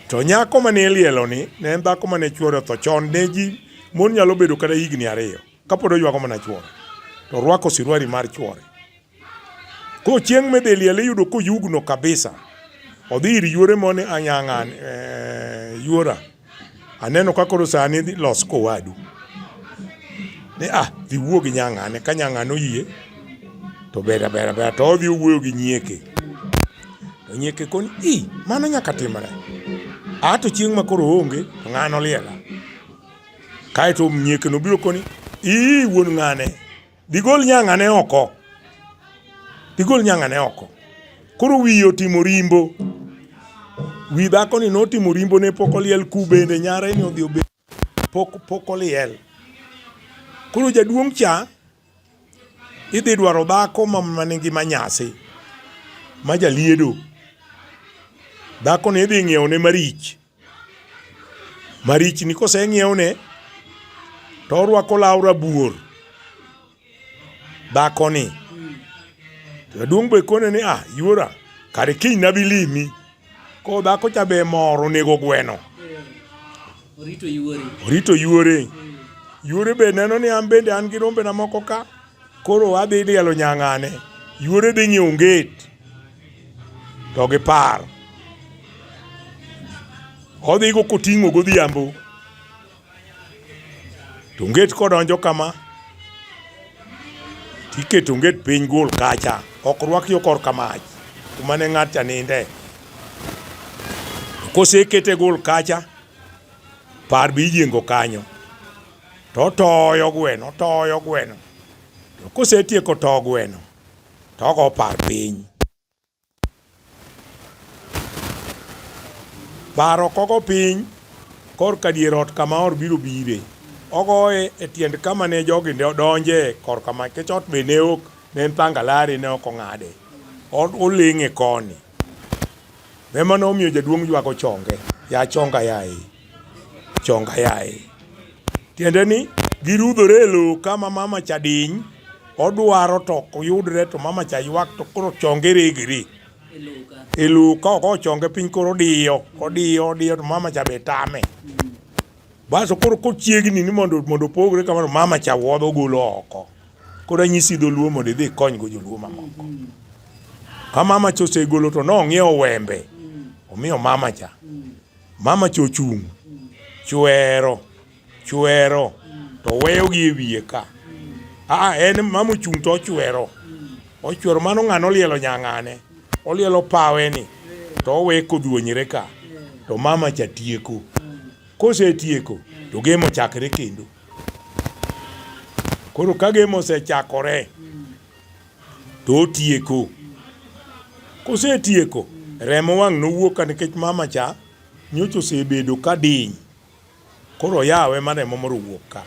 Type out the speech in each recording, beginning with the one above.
To nyako ma ne ilieloni ne en dhako ma ne chwore otho chon. Ne ji mon nyalo bedo kata higni ariyo kapod oywago mana chwore, to orwako siruari mar chwore. Koro chieng' midhi liele iyudo koyugno kabisa, odhi ir yuore mone anyang'an, eh, yuora Aneno ka koro sani idhi los kowadu. Ni ah, dhi wuo gi nyang'ane, ka nyang'ane oyie to ber aber aber to odhi owuoyo gi nyieke. To nyieke koni, i, mano nyaka timre. Ah, to chieng' ma koro oonge, to ng'ano oliela. Kaeto nyiekeno biro koni, ii, wuon ng'ane. Digol nyang'ane oko. Digol nyang'ane oko. Koro wiye otimo rimbo. Wi dhako ni notimo rimbo ne pok oliel ku bende nyare ni odhi obed pok pok oliel. Koro jaduong' cha idhi dwaro dhako ma manigi manyasi ma jaliedo. Dhako ni idhi ng'iewo ne marich. Marichni koseng'iewne to orwako law rabuor dhakoni. Jaduong' be kone ni ah yuora kare kiny nabi limi. Ko dhako cha be mor onego gweno. Orito yuore. Orito yuore. Yuore be neno ni an bende an gi rombena moko ka koro adhi lielo nyang'ane. Yuore dhi ng'iewo onget to gipar. Odhigo koting'o godhiambo to nget kodonjo kama tiketo nget piny gol kacha ok rwak yo kor kamach kuma ne ng'at cha ninde kosekete gol kacha par bi yiengo kanyo to toyo gweno toyo gweno to kosetieko to gweno to ogo par piny. Paro kogo piny korka dier ot kama or biro bire. Ogoye e tiend kama ne jogi donje korka ma kech ot be ne ok ne en pangalari ne ok ong'ade. Oleng'e koni. Ema ne omiyo jaduong' ywago chonge, Ya chonga yaye! Chonga yaye! Tiende ni girudhore e lowo ka ma mama cha diny, odwaro to ok yudre to mama cha ywak to koro chonge regre e lowo ka ok ochonge piny koro odiyo, odiyo, odiyo to mama cha be tame. Basto koro kochiegni ni mondo opogre kamano, mama cha wuodhe ogolo oko. Koro anyisi dholuo mondo idhi ikonygo joluo mamoko. Ka mama cha osegolo to nong'iewo wembe omiyo mama cha. Mama cha ochung' chwero chwero to weyogi e wiye ka. Aa, en mama ochung' to ochwero ochwero mano ng'ano olielo nyang'ane olielo paweni to owe kodhuonyre ka to mama cha tieko. Kosetieko to game ochakre kendo. Koro ka game osechakore to otieko. Kosetieko remo wang' nowuok ka nikech mama cha nyocha osebedo ka diny. Koro oyawe ma remo moro owuok ka.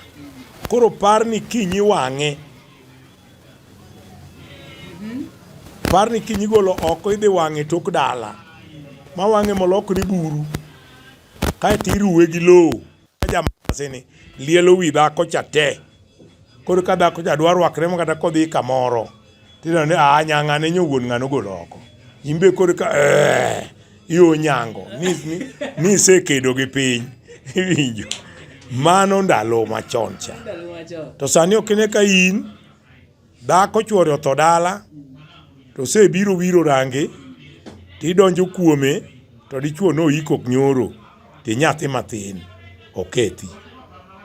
Koro par ni kiny iwang'e. Par ni kiny igolo oko idhi wang'e tok dala. Ma wang'e molokre buru. Kaeto iruwe gi lowo. jamasini lielo wi dhako cha te koro ka dhako cha dwa rwakre ma kata kodhi kamoro tineno ni a nyanga ne nyowuon ng'ano golo oko imbe koro ka eh, yo nyango nisekedo gi piny iwinjo mano ndalo machon cha to sani ok ine ka in Dhako chwore otho dala to osebiro wiro range to idonjo kuome to dichwo noyiko nyoro to inyathi matin okethi.